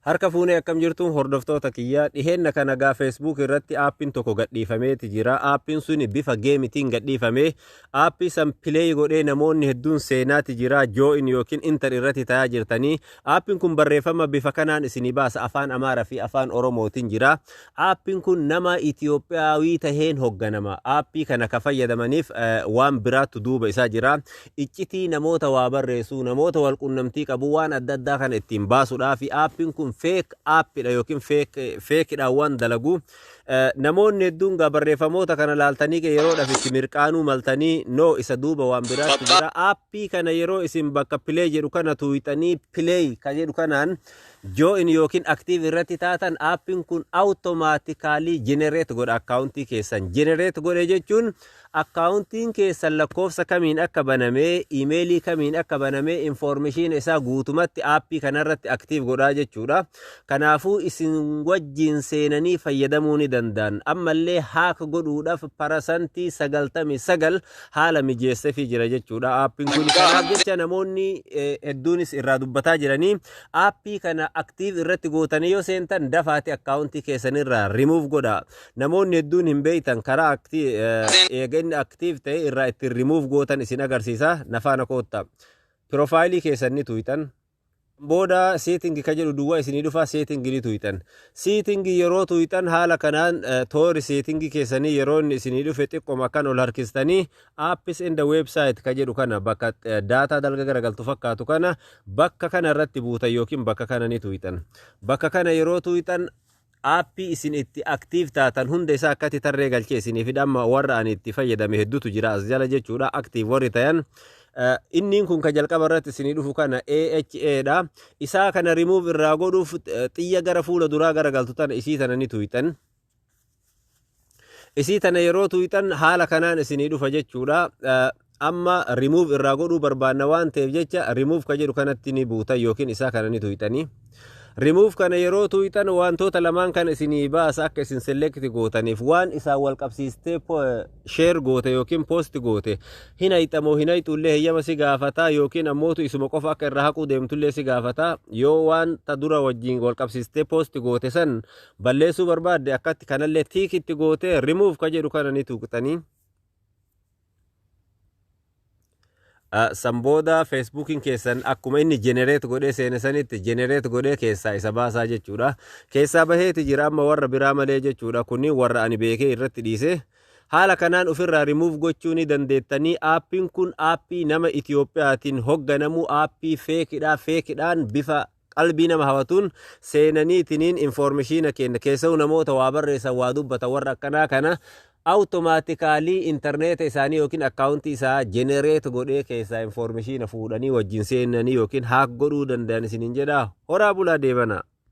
Harka fuunee akkam jirtu hordoftoota kiyya dhiheenna kana gaa Facebook irratti aappiin tokko gadhiifameeti jira. Aappiin suni bifa geemitiin gadhiifame. Aappii san pileey godhee namoonni hedduun seenaati jira. Joo'in yookiin intar irratti tayaa jirtanii. Aappiin kun barreeffama bifa kanaan isinii baasa afaan Amaaraa fi afaan Oromootiin jira. Aappiin kun nama Itiyoophiyaawii taheen hogganama. Aappii kana ka fayyadamaniif waan biraattu duuba isaa jira. Iccitii namoota waa barreessu, namoota wal qunnamtii qabu waan adda addaa kana ittiin baasudhaaf aappiin kun feek aappidha yookiin feekidhaan waan dalagu. Namoonni hedduun gaa barreeffamoota kana laaltanii yeroodhaaf itti mirqaanuu maltanii no isa duuba waan biraattu jira. Aappii kana yeroo isin bakka pilee jedhu kana tuuyxanii pilee ka jedhu kanaan Join ykn Active irratti taatan app'n kun automatically generate godha account keessan. Generate godhe jechuun account'n keessan lakkoofsa kamiin akka baname, email kamiin akka baname information isaa guutumatti app kanarratti active godhaa jechuudha. Kanaafuu isin wajjin seenanii fayyadamuu ni danda'an. Ammallee hack godhuudhaaf parasantii 99 haala mijeessefii jira jechuudha app'n kun. Kanaaf jecha namoonni hedduunis irraa dubbataa jiranii Aappii kana active irratti gootanii yoo seentan dafaati akkaawuntii keessanirraa remove godhaa. Namoonni hedduun hin beektan karaa acti- eh, eega inni active ta'e irraa ittiin remove gootan isin agarsiisa. Na faana kootta. Pirofaayilii keessan ni tuqxan. Booda setting ka jedhu duwwaa isinii dhufa setting ni tuqxan. Setting yeroo tuqxan haala kanaan eh, toori setting keessanii yeroo inni isinii dhufe xiqqoma kan ol harkistanii Apps and website ka jedhu kana bakka daataa dalga garagaltu fakkaatu kana bakka kana irratti buutan yookiin bakka kana ni tuuyxan. Bakka kana yeroo tuuyxan aappii isin itti aktiiv taatan hunda isaa akkatti tarree galchee isinii fi dhamma warra ani itti fayyadame hedduutu jira as jala jechuudha aktiiv warri tayan. Inniin kun ka jalqaba irratti isinii dhufu kana AHA dha. Isaa kana remove irraa godhuuf xiyya gara fuula duraa garagaltu tana isii tana ni tuuyxan. isii tana yeroo tuuyxan haala kanaan isinii dhufa jechuudha amma remove irraa godhuu barbaanna waan ta'eef jecha remove ka jedhu kanatti ni buutan yookiin isaa kana ni tuuyxanii remove kana yeroo tuuyxan wantoota lamaan kana isinii baasa akka isin select gootaniif waan isaan wal qabsiistee share goote yookiin post goote hin hayxamoo hin hayxullee heyyama si gaafataa yookiin ammootu isuma qofa akka irraa haquu deemtullee si gaafataa yoo waan ta dura wajjin wal qabsiistee post goote san balleessuu barbaadde akkatti kanallee tiik itti gootee remove ka jedhu kana ni tuuqxanii san booda feesbuukiin keessan akkuma inni jenereet godhee seene sanitti jenereet godhee keessaa isa baasaa jechuudha keessaa baheeti jira amma warra biraa malee jechuudha kunniin warra ani beekee irratti dhiisee haala kanaan ofirraa rimuuf gochuu ni dandeettanii aappiin kun aappii nama Itiyoophiyaatiin hogganamuu aappii feekidhaa feekidhaan bifa qalbii nama hawatuun seenaniitiniin informishiina keenna keessa'u namoota waa barreessan waa dubbatan warra akkanaa kana awutomaatikaalii intarneeta isaanii yookiin akkaawuntii isaa jenereet godhee keessaa informishiina fuudhanii wajjin seenanii yookiin haak godhuu danda'an isiniin jedha horaa bulaa deebanaa.